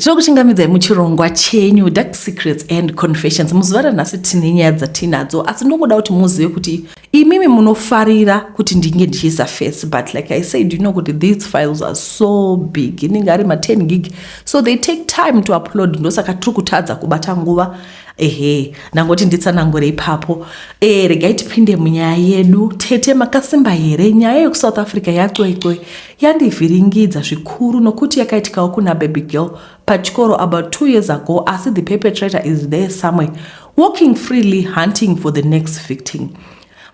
Tinokuchingamidzai muchirongwa chenyu Dark Secrets and Confessions. Muzuva ranhasi tine nyaya dzatinadzo asi ndongoda kuti muzive kuti imimi munofarira kuti ndinge ndichiisa face but like I said you know kuti these files are so big inenge ari ma 10 gig so they take time to upload ndosaka tiri kutadza kubata nguva ehe ndangoti nditsanangure ipapo e, regai tipinde munyaya yedu tete makasimba here nyaya yekuSouth Africa yacwecwe yandivhiringidza zvikuru nokuti yakaitikawo kuna baby girl pachikoro about two years ago asi the perpetrator is there somewhere walking freely hunting for the next victim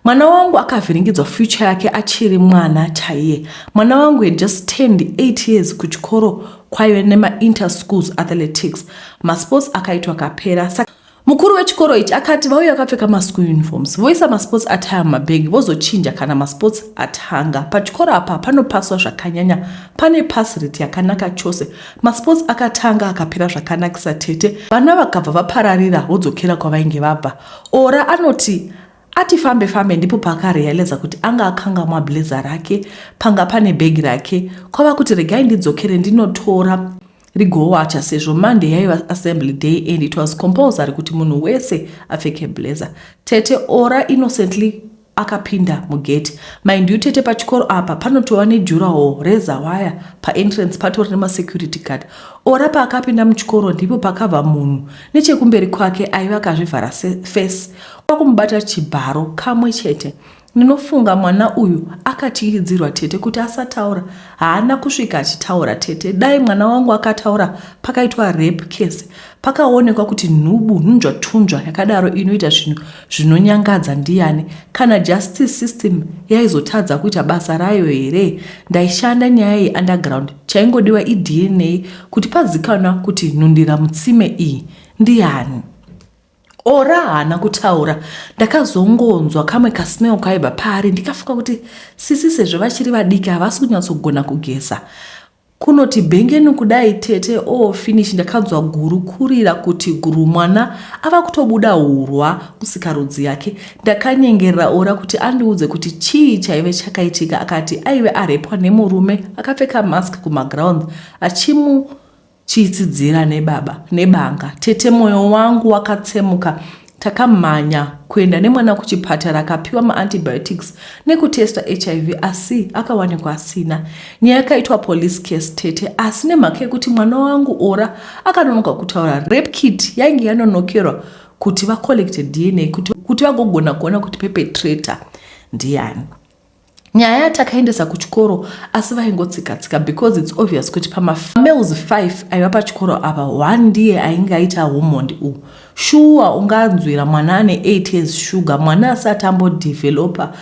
mwana wangu akavhiringidzwa future yake achiri mwana chaiye mwana wangu had just turned 8 years kuchikoro kwaive nemainterschools athletics masports akaitwa kapera saka Mukuru wechikoro ichi akati vauya vakapfeka maschool uniforms voisa masports attire mumabhegi vozochinja kana masports atanga. Pachikoro apa panopaswa zvakanyanya, pane pass rate yakanaka chose. Masports akatanga akapera zvakanakisa tete, vana vakabva vapararira vodzokera kwavainge vabva. Ora anoti ati fambe fambe ndipo paakarealiza kuti anga akangamwa blazer rake panga pane bhegi rake kwava kuti regai ndidzokere ndinotora rigowacha sezvo monday yaiva assembly day and it was compulsory kuti munhu wese apfeke blazer tete ora innocently akapinda mugate mind you tete pachikoro apa panotova nejurahall rezawaya paentrance patori nemasecurity guard ora paakapinda muchikoro ndipo pakabva munhu nechekumberi kwake aiva akazvivhara face kwakumubata chibharo kamwe chete Ndinofunga mwana uyu akatyiridzirwa tete kuti asataura. Haana kusvika achitaura tete. Dai mwana wangu akataura pakaitwa rape case pakaonekwa kuti nhubu nhunzvatunzva yakadaro inoita zvinhu zvinonyangadza ndiyani. Kana justice system yaizotadza kuita basa rayo here? Ndaishanda nyaya yeunderground. Chaingodiwa iDNA kuti pazikanwa kuti nhundira mutsime iyi ndiyani. Ora haana kutaura ndakazongonzwa kamwe kasmell kaibva paari ndikafunga kuti sisi sezvo vachiri vadiki havasi kunyatsogona kugeza kunoti bhengeni kudai tete o oh, finish ndakanzwa guru kurira kuti guru mwana ava kutobuda hurwa musikarudzi yake ndakanyengerera ora kuti andiudze kuti chii chaive chakaitika akati aive arepwa nemurume akapfeka mask kumaground achimu Chiitsidzira nebaba nebanga tete moyo wangu wakatsemuka takamhanya kuenda nemwana kuchipatara akapiwa maantibiotics nekutesta hiv asi akawanikwa asina nyaya yakaitwa police case tete asi nemhaka yekuti mwana wangu ora akanonoka kutaura rape kit yainge yanonokerwa kuti vacollect dna kuti vagogona kuona kuti pepetrator ndiani nyaya yatakaendesa kuchikoro asi vaingotsikatsika because its obvious kuti pamafamales 5 aiva pachikoro apa one ndiye ainge aita humondi uhu shuwa unganzwira mwana ane 8 years shuga mwana asati ambodevelopa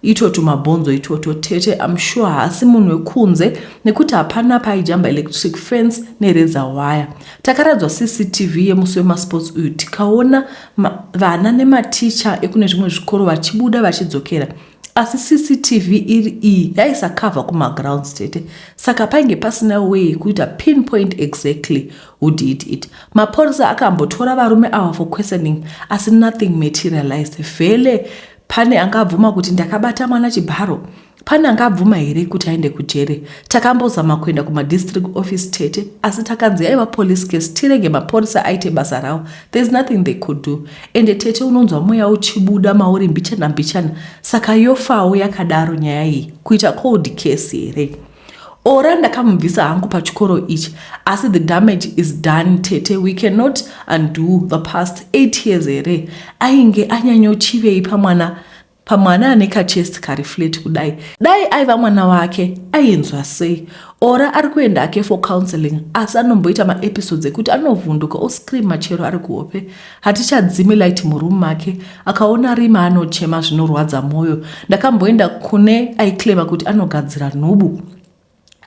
itoto mabhonzo itoto tete am sure haasi munhu wekunze nekuti hapana paijamba electric fence nereza waya takaradzwa cctv yemusi wemasports uyu tikaona Ma, vana nematicha ekune zvimwe zvikoro vachibuda vachidzokera asi cctv iri iyi yaisakavha kumagrounds chete saka painge pasina way kuita pinpoint exactly who did it mapurisa akambotora varume ava for questioning asi nothing materialized vhele pane angabvuma kuti ndakabata mwana chibharo Pane angabvuma here kuti aende kujere? Takambozama kuenda kumadistrict office tete asi takanzi yaiva police case tirege mapurisa aite basa ravo. There's nothing they could do. Ende tete unonzwa mweya uchibuda mauri mbichana mbichana saka yofawo yakadaro nyaya iyi kuita cold case here? ora ndakamubvisa hangu pachikoro ichi asi the damage is done tete we cannot undo the past eight years here ainge anyanyochivei pamwana pamwana ane kachest kari flat kudai dai aiva mwana wake ainzwa sei ora ari kuenda ake for counseling asi anomboita maepisodes ekuti anovhunduka oscream machero ari kuhope hatichadzimi light muroom make akaona rima anochema zvinorwadza mwoyo ndakamboenda kune aiclema kuti anogadzira nhubu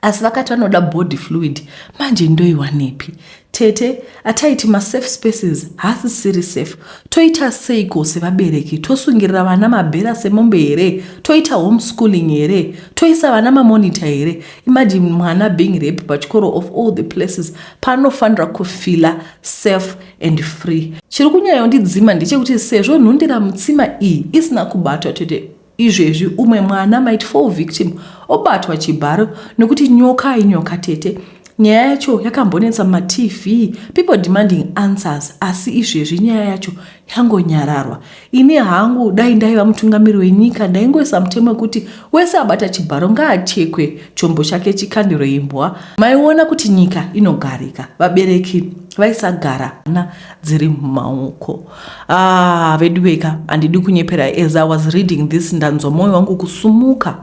asi vakati vanoda body fluid manje ndoiwanepi tete ataiti masafe spaces haasisiri safe toita seiko sevabereki tosungirira vana mabhera semombe here toita homeschooling here toisa vana mamonita here imagine mwana being rape pachikoro of all the places paanofanira kufila safe and free chiri kunyayo ndidzima ndechekuti sezvo nhundira mutsima iyi isina kubatwa tete Izvezvi umwe mwana might fall victim obatwa chibharo nokuti nyoka inyoka tete. Nyaya yacho yakambonetsa matv people demanding answers asi izvezvi nyaya yacho yangonyararwa. Ini hangu dai ndaiva mutungamiri wenyika ndaingoisa mutemo wekuti wese abata chibharo ngaachekwe chombo chake chikandiro imbwa. Maiona kuti nyika inogarika vabereki vaisagara na dziri mumaoko. Ah, veduweka handidi kunyepera as i was reading this ndanzwa mwoyo wangu kusumuka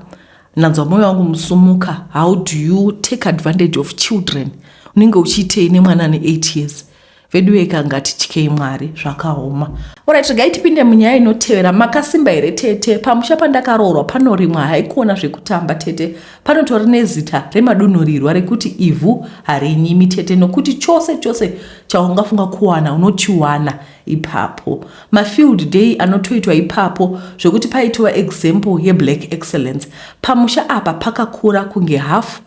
ndanzwa mwoyo wangu musumuka how do you take advantage of children unenge uchiitei nemwana ane 8 years veduweka ngatityei mwari zvakaoma orit regai tipinde munyaya inotevera makasimba here tete pamusha pandakaroorwa panorimwa haikuona zvekutamba tete Panotori nezita remadunhurirwa rekuti ivhu harinyimi chete nokuti chose chose chaungafunga kuwana unochiwana ipapo. Mafield day anotoitwa ipapo zvekuti paitova example yeblack excellence. Pamusha apa pakakura kunge hafu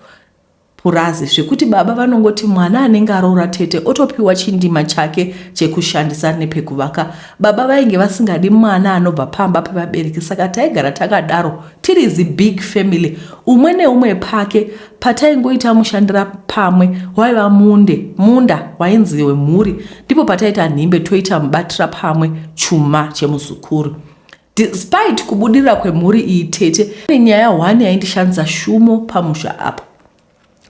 purazi zvekuti baba vanongoti mwana anenge aroora tete otopiwa chindima chake chekushandisa nepekuvaka. Baba vainge vasingadi mwana anobva pamba pevabereki saka taigara takadaro. Tiri zibig family umwe neumwe pake pataingoita mushandira pamwe waiva munde munda wainzi wemhuri ndipo pataita nhimbe toita mubatira pamwe chuma chemuzukuru despite kubudirira kwemhuri iyi tete nenyaya one yaindishandisa shumo pamusha apa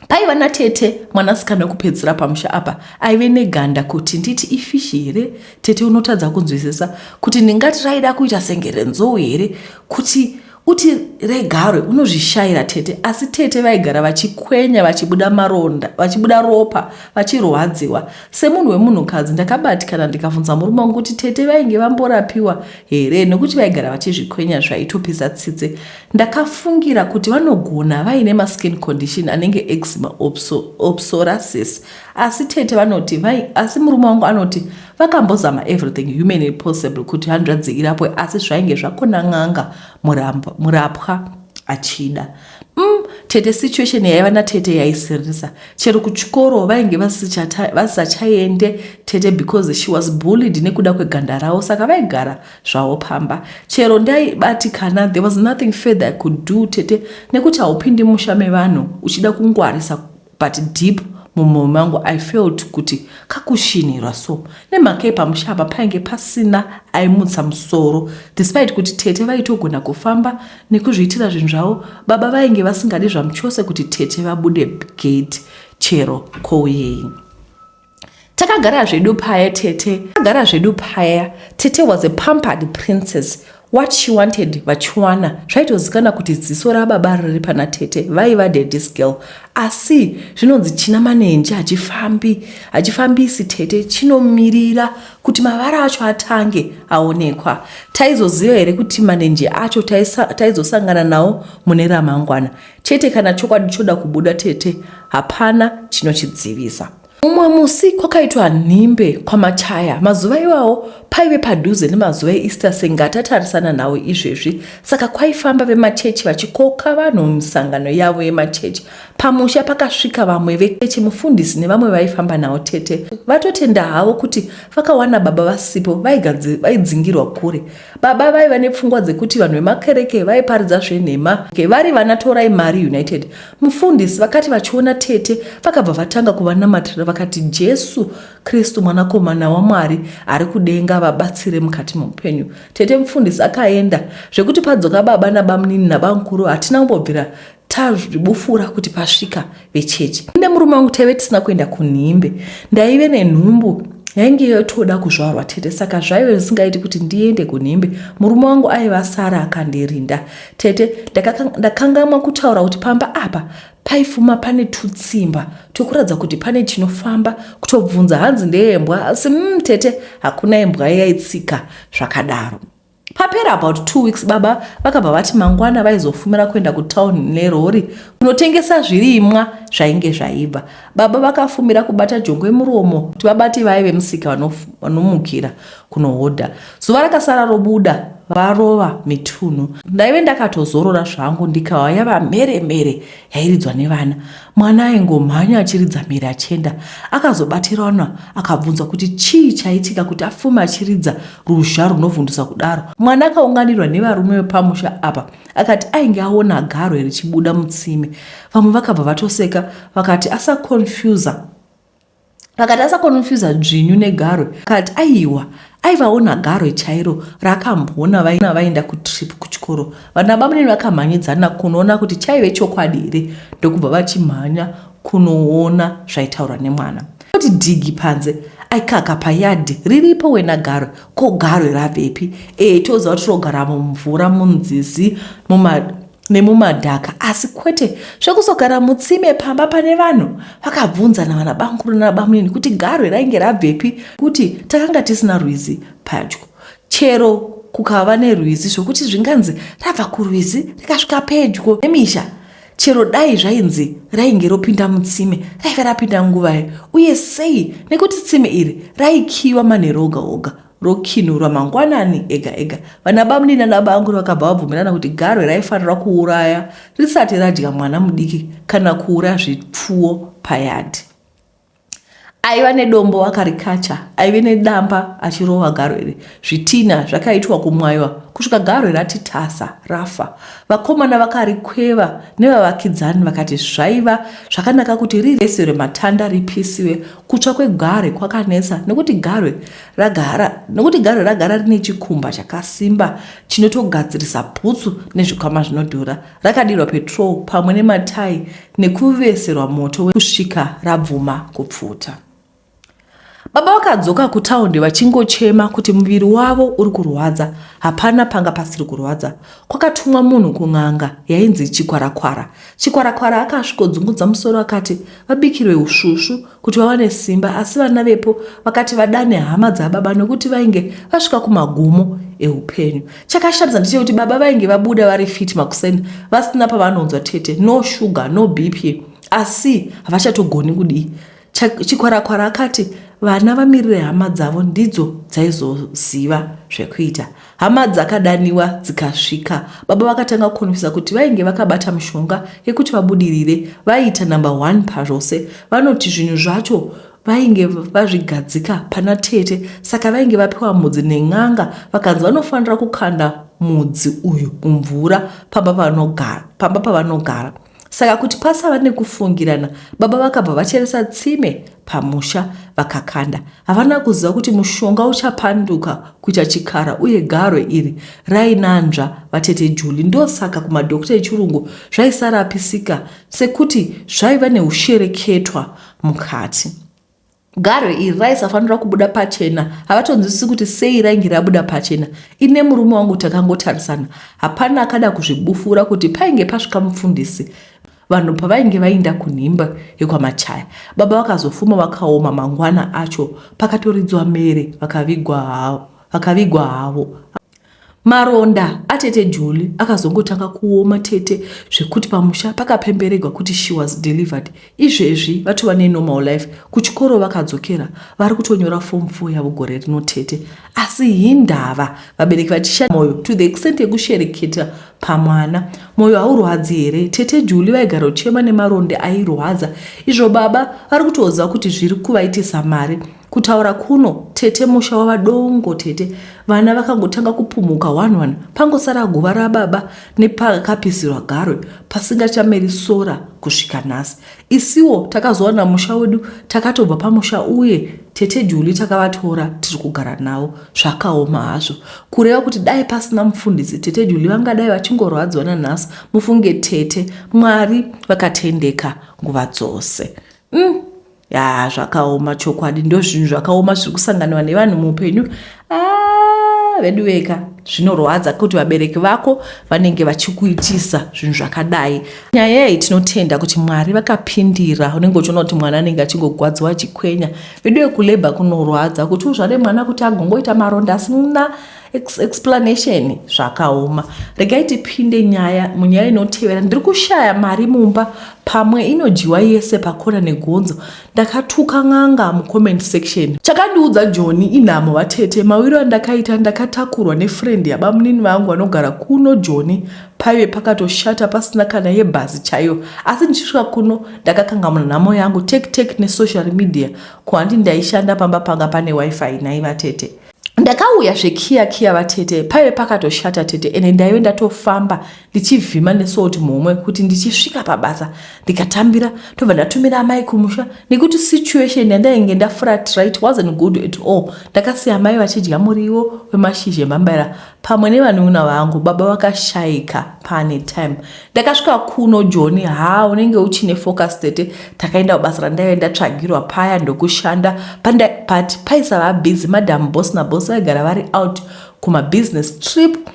paiva natete mwanasikana wekupedzisira pamusha apa aive neganda kuti nditi ifishi here tete unotadza kunzwisisa kuti ndingati raida kuita senge renzou here kuti uti regarwe unozvishayira tete asi tete vaigara vachikwenya vachibuda maronda vachibuda ropa vachirwadziwa semunhu wemunhukadzi ndakabatikana ndikavhunza murume wangu kuti tete vainge vamborapiwa here nekuti vaigara vachizvikwenya zvaitopisa tsitse Ndakafungira kuti vanogona vaine maskin condition anenge eczema or psoriasis asi tete vanoti vai asi murume wangu anoti vakambozama everything humanly possible kuti hanzvadzi irapwe asi zvainge zvakona n'anga murapwa achida mm, tete situation yaiva natete yaisirisa chero kuchikoro vainge vasisachaende tete because she was bullied nekuda kweganda ravo saka vaigara zvawo pamba chero ndaibatikana there was nothing further i could do tete nekuti haupindi musha mevanhu uchida kungwarisa but deep mumwoyo mangu i felt kuti kakushinhirwa so nemhaka yepamusha apa painge pasina aimutsa musoro despite kuti tete vaitogona kufamba nekuzviitira zvinhu zvavo baba vainge vasingadi zvamuchose kuti tete vabude gate chero kouyei takagara zvedu paya tete takagara zvedu paya tete was a pampered princess what she wanted vachiwana zvaitozikana kuti ziso rababa riri pana tete vaiva dadis girl asi zvinonzi china manenji hachifambi hachifambisi tete chinomirira kuti mavara acho atange aonekwa taizoziva here kuti manenji acho taizosangana nawo mune ramangwana Tete kana chokwadi choda kubuda tete hapana chinochidzivisa. Mumwe musi kwakaitwa nhimbe kwamachaya mazuva iwawo paive padhuze nemazuva easter sengatatarisana nhau izvezvi saka kwaifamba vemachechi vachikoka vanhu mumisangano yavo yemachechi pamusha pakasvika vamwe vechechi mufundisi nevamwe vaifamba nhau tete vatotenda havo kuti vakawana baba vasipo vaidzingirwa kure Baba vaiva nepfungwa dzekuti vanhu vemakereke vaiparidza zvenhema vari vana torai mari united. Mufundisi vakati vachiona tete vakabva vatanga kuvanamatira vakati Jesu Kristu mwanakomana waMwari ari kudenga vabatsire mukati meupenyu. Tete mufundisi akaenda zvekuti padzoka baba nabamnini nabamkuru hatina kumbobvira tazvibufura kuti pasvika vechechi ine murume wangu taive tisina kuenda kunhimbe ndaive nenhumbu yainge yotoda kuzvarwa tete saka zvaive zvisingaiti kuti ndiende kunhimbe murume wangu aive asara akandirinda tete ndakangamwa kutaura kuti pamba apa paifuma pane tutsimba tokuratidza kuti pane chinofamba kutobvunza hanzi ndeyembwa asi mm, tete hakuna imbwa yaitsika zvakadaro Papera about two weeks baba vakabva vati mangwana vaizofumira kuenda kutown nerori kunotengesa zvirimwa zvainge zvaibva. Baba vakafumira kubata jongwe muromo kuti vabati vaye vemusika vanomukira kunohodha. Zuva rakasara robuda varova mitunhu. Ndaive ndakatozorora zvangu ndikauya vamhere mhere yairidzwa nevana mwana aingomhanya achiridza mhere achienda akazobatirana akabvunzwa kuti chii chaitika kuti afume achiridza ruzha runovhundusa kudaro mwana akaunganirwa nevarume vepamusha apa akati ainge aona garo richibuda mutsime vamwe vakabva vatoseka vakati asaconfusa vakati asakonofyuza dzvinyu negarwe kati aiwa aivaona garwe chairo rakamboona vaina vaenda kutrip kuchikoro vana bamunini vakamhanyidzana kunoona kuti chaive chokwadi here ndokubva vachimhanya kunoona zvaitaurwa nemwana kuti dhigi panze aikaka payadhi riripo wena garwe ko garwe ravepi ee toziva kuti rinogara mumvura munzizi muma nemumadhaka asi kwete zvekuzogara mutsime pamba pane vanhu vakabvunza navana bamukuru nabamunini kuti garwe rainge rabvepi kuti takanga tisina rwizi padyo chero kukava nerwizi zvokuti zvinganzi rabva kurwizi rikasvika pedyo nemisha chero dai zvainzi rainge ropinda mutsime raive rapinda nguvai uye sei nekuti tsime iri raikiyiwa manheru oga oga rokinurwa mangwanani ega ega. Vanabamnini nanabaanguru vakabva vabvumirana kuti garwe raifanira kuuraya risati radya mwana mudiki kana kuuraya zvipfuwo payadhi. Aiva nedombo wakarikacha, aive nedamba achirova garwe iri. Zvitinha zvakaitwa kumwaiwa kusvika garwe rati tasa, rafa. Vakomana vakarikweva nevavakidzani vakati zvaiva zvakanaka kuti rireserwe matanda ripisiwe. Kutsva kwegware kwakanetsa nekuti garwe ragara nokuti garwe ragara rine chikumba chakasimba chinotogadzirisa bhutsu nezvikwama zvinodhura rakadirwa petrol pamwe nematai nekuveserwa moto wekusvika rabvuma kupfuta baba vakadzoka kutaundi vachingochema kuti muviri wavo uri kurwadza hapana panga pasiri kurwadza kwakatumwa munhu kun'anga yainzi chikwarakwara Chikwarakwara akasvikodzungudza musoro akati vabikirwe usvusvu kuti vawane simba asi vana vepo vakati vadane hama dzababa nokuti vainge vasvika kumagumo eupenyu. Chakashamisa ndechekuti baba vainge vabuda vari fit makuseni vasina pavanonzwa tete no sugar no BP asi havachatogoni kudii Chikwarakwara akati vana vamirire hama dzavo ndidzo dzaizoziva zvekuita. Hama dzakadaniwa dzikasvika. Baba vakatanga kukonfisa kuti vainge vakabata mushonga yekuti vabudirire vaiita number one pazvose. Vanoti zvinhu zvacho vainge vazvigadzika pana tete saka vainge vapiwa mudzi nen'anga vakanzi vanofanira kukanda mudzi uyu mumvura pamba pavanogara Saka kuti pasava nekufungirana, baba vakabva vacheresa tsime pamusha vakakanda. Havana kuziva kuti mushonga uchapanduka kuita chikara uye garwe iri rainanzva vatete Juli. Ndosaka kumadhokota echirungu zvaisarapisika sekuti zvaiva neushereketwa mukati. Garwe iri raisafanira kubuda pachena. Havatonzwisisi kuti sei rainge rabuda pachena. Ine murume wangu takangotarisana. Hapana akada kuzvibufura kuti painge pasvika mufundisi vanhu pavainge vainda kunhimba yekwamachaya baba vakazofuma vakaoma mangwana acho pakatoridzwa mere vakavigwa havo Maronda atete Joli akazongotanga kuoma tete zvekuti pamusha pakapemberegwa kuti she was delivered. Izvezvi vatova nenormal life, kuchikoro vakadzokera, vari kutonyora form 4 yavo gore rino tete. Asi hindava vabereki vachisha moyo to the extent yekushereketa pamwana. Moyo haurwadzi here? Tete Joli vaigara uchema nemaronda airwadza. Izvo baba vari kutoziva kuti zviri kuvaitisa mari. kutaura kuno tete musha wava dongo tete vana vakangotanga kupumhuka one one pangosara guva rababa nepakapisirwa garwe pasingachameri sora kusvika nhasi isiwo takazowana musha wedu takatobva pamusha uye tete juli takavatora tiri kugara navo zvakaoma hazvo kureva kuti dai pasina mufundisi tete juli vangadai vachingorwadziwa nanhasi mufunge tete mwari vakatendeka nguva dzose mm. ya zvakaoma chokwadi ndozvinhu zvakaoma zviri kusanganiwa nevanhu muupenyu ah, vedu veka zvinorwadza kuti vabereki vako vanenge vachikuitisa zvinhu zvakadai nyaya iyi tinotenda kuti mwari vakapindira unenge uchiona kuti mwana anenge achingogwadziwa achikwenya vedu vekuleba kunorwadza kuti uzvare mwana kuti agongoita maronda asina Ex explanation zvakaoma regai tipinde nyaya munyaya inotevera ndiri kushaya mari mumba pamwe inodyiwa yese pakona negonzo ndakatuka n'anga mucomment section chakandiudza joni inhamo vatete mawiro andakaita ndakatakurwa nefriend yabamunini vangu vanogara kuno joni paive pakatoshata pasina kana yebhazi chaiyo asi ndichisvika kuno ndakakangamuna nhamo yangu tek tek nesocial media kuhandi ndaishanda pamba panga pane wifi naivatete ndakauya zvekiya kiya vatete paive pakatoshata tete ene ndaive ndatofamba ndichivhima nesouti muhomwe kuti ndichisvika pabasa ndikatambira tobva ndatumira amai kumusha nekuti situation yandainge ndafuratirit wasn't good at all ndakasiya amai vachidya muriwo wemashizha emambaira pamwe nevanun'una vangu baba vakashaika pane time ndakasvika kuno joni ha unenge uchine focus tete takaenda kubasa randaive ndatsvagirwa paya ndokushanda but paisava busy madam boss naboss vaigara vari out kumabusiness trip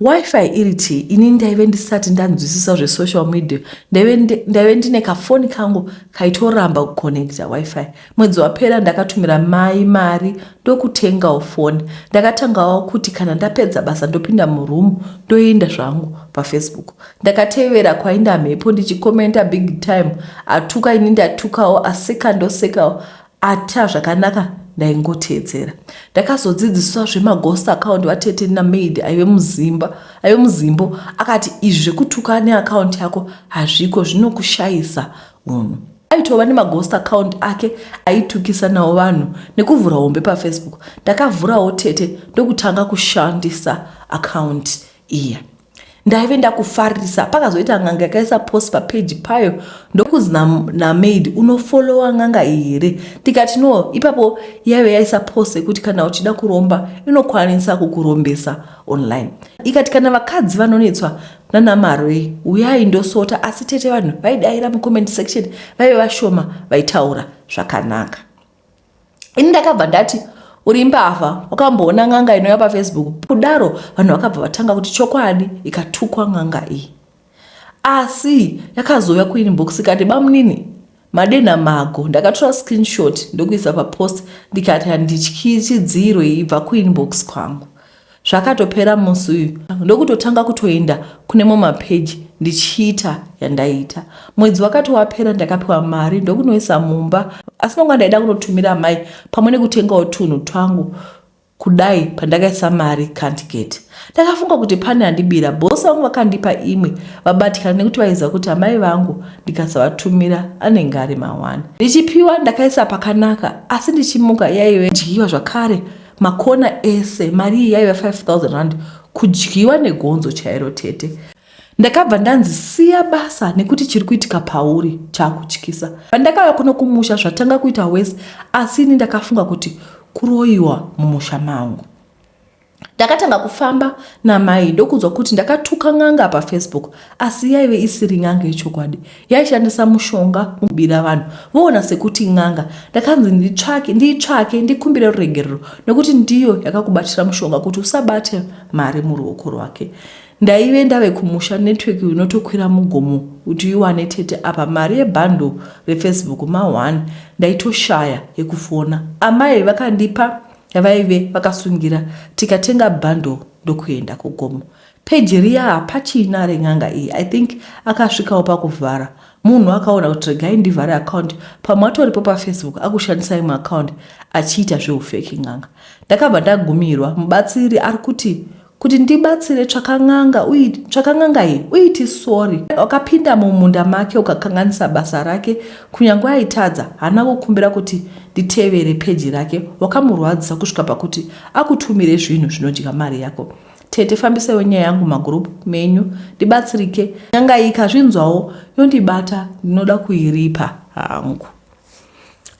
wifi iri ti ini ndaive ndisati ndanzwisisa zvesocial media ndaive ndine kafoni kangu kaitoramba kuconnecta wifi Mwedzi wapera ndakatumira mai mari ndokutengawo foni. Ndakatangawo kuti kana ndapedza basa ndopinda muroom ndoenda zvangu pafacebook. Ndakatevera kwainda mhepo ndichikomenta big time. Atuka ini ndatukawo aseka ndosekawo ata zvakanaka ndaingoteedzera. Ndakazodzidziswa zvemaghost account vatete namaid aive muzimba aive muzimbo akati izvi zvekutuka neaccount yako hazviko zvinokushayisa Munhu aitova nemaghost account ake aitukisa nawo vanhu nekuvhura hombe pafacebook. Ndakavhurawo tete ndokutanga kushandisa account iya. Ndaive ndakufarisa pakazoita n'anga yakaisa post papeji payo ndokunzi namaid unofollowa n'anga iyi here ndikati no ipapo yaive yaisa post yekuti kana uchida kuromba inokwanisa kukurombesa online ikati kana vakadzi vanonetswa nana marwei uyai ndosota asi tete vanhu vaidaira mucomment section vaive vashoma vaitaura zvakanaka ini ndakabva ndati uri mbavha wakamboona n'anga inouya pafacebook kudaro vanhu vakabva vatanga kuti chokwadi ikatukwa n'anga iyi asi yakazouya kuinbox ikati bamunini Madenha mago ndakatora screenshot ndokuisa papost ndikati handityi chidziro ibva kuinbox kwangu. Zvakatopera musi uyu ndokutotanga kutoenda kune mo mapeji ndichiita yandaiita. Mwedzi wakati wapera ndakapiwa mari ndokunoisa mumba asi manga ndaida kunotumira mai pamwe nekutengawo tunhu twangu Kudai pandakaisa mari can't get. Ndakafunga kuti pane andibira. Boss vangu vakandipa imwe vabatikana nekuti vaiziva kuti amai vangu ndikasavatumira anenge ari mawani. Ndichipiwa ndakaisa pakanaka asi ndichimuka yaive dyiwa zvakare makona ese. Mari iyi yaive 5000 rand kudyiwa negonzo chairo tete. Ndakabva ndanzi siya basa nekuti chiri kuitika pauri chakutyisa. Pandakauya kuno kumusha zvatanga kuita wese asi ini ndakafunga kuti kuroyiwa mumusha mangu. Ndakatanga kufamba namai ndokunzwa kuti ndakatuka n'anga pafacebook asi yaive isiri n'anga yechokwadi yaishandisa mushonga mubira vanhu voona sekuti n'anga. Ndakanzi nditsvake ndiitsvake ndikumbire ruregerero nekuti ndiyo yakakubatira mushonga kuti usabate mari muruoko rwake. ndaive ndave kumusha network unotokwira mugomo kuti uiwane tete apa mari yebhandle refacebook ma1 ndaitoshaya yekufona amai vakandipa yavaive vakasungira tikatenga bhandle ndokuenda kugomo peji riya hapachina ren'anga iyi i think akasvikawo pakuvhara munhu akaona kuti regai ndivhare akaunti pamwe atoripo pafacebook akushandisa imwe akaunti achiita zveufeki n'anga ndakabva ndagumirwa mubatsiri ari kuti kuti ndibatsire tsvakan'anga tsvakan'anga iyi uiti sori wakapinda mumunda make ukakanganisa basa rake kunyange aitadza hana kukumbira kuti nditevere peji rake wakamurwadzisa kusvika pakuti akutumire zvinhu zvinodya mari yako tete fambisaiwo nyaya yangu magroup menyu ndibatsirike nyanga iyi kazvinzwawo yondibata ndinoda kuiripa hangu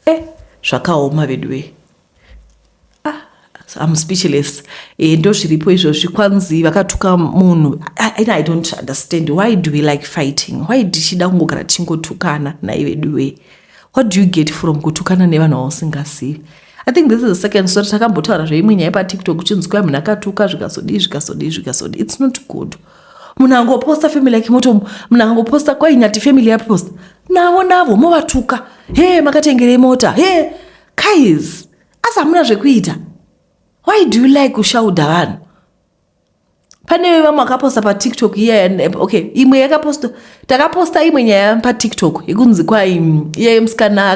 e eh, zvakaoma veduwee ah, I'm speechless eh, ndozviripo izvozvi kwanzi vakatuka munhu ah, and I don't understand why do we like fighting why tichida kungogara tichingotukana nai veduwee what do you get from kutukana nevanhu vausingazivi i think this is the second story takambotaura zveimwe nyaya patiktok uchinzi kwai munhu akatuka zvikazodii zvikazodii zvikazodii its not good munhu angoposta family yake moto munhu angoposta kwai nyati family yaposta navo navo movatuka he makatengerei mota he guys asi hamuna zvekuita why do you like kushaudha vanhu pane vevamwe vakaposta patiktok iya okay imwe yakaposta takaposta imwe nyaya patiktok yekunzi kwai mm, iya yemusikana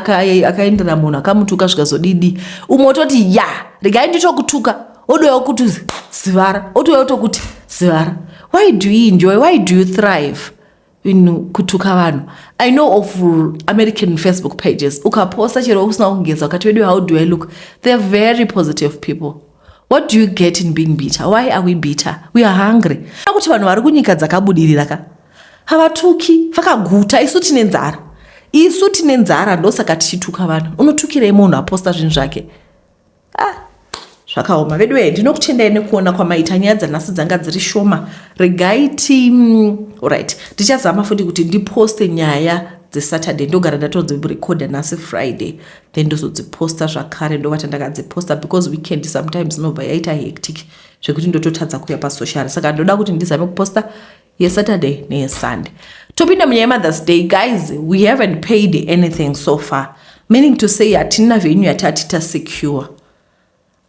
akaendera munhu akamutuka zvikazodidi umwe ototi ya regai nditokutuka odouya okuti zivara otouya otokuti zivara why do you enjoy why do you thrive inu kutuka vanhu i know of american facebook pages ukaposta chero usina kugeza ukati vedu how do i look they're very positive people what do you get in being bitter why are we bitter we are hungry akuti vanhu vari kunyika dzakabudirira ka havatuki vakaguta isu tine nzara isu tine nzara ndosaka tichituka vanhu unotukirei munhu aposta zvinhu zvake ah zvakaoma veduwee ndinokutendai nekuona kwamaita nyaya dzanhasi dzanga dziri shoma regai ti mm, orit ndichazama futi kuti ndiposte nyaya dzesaturday ndogara ndatodzirecorda nhasi friday then ndozodziposta zvakare ndovata ndakadziposta because weekend sometimes inobva yaita hectic zvekuti ndototadza kuya pasocial saka ndoda kuti ndizame kuposta yesaturday neyesunday topinda munyaya yemothers day guys we haven't paid anything so far meaning to say hatina venyu yatati tasecure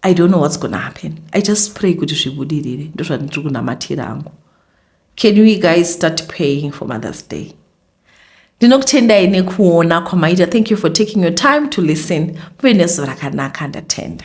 i don't know what's gonna happen i just pray kuti zvibudirire ndozvandiri kunamatira angu can we guys start paying for mothers day ndinokutendai nekuona kwamaita thank you for taking your time to listen muve nezuva rakanaka ndatenda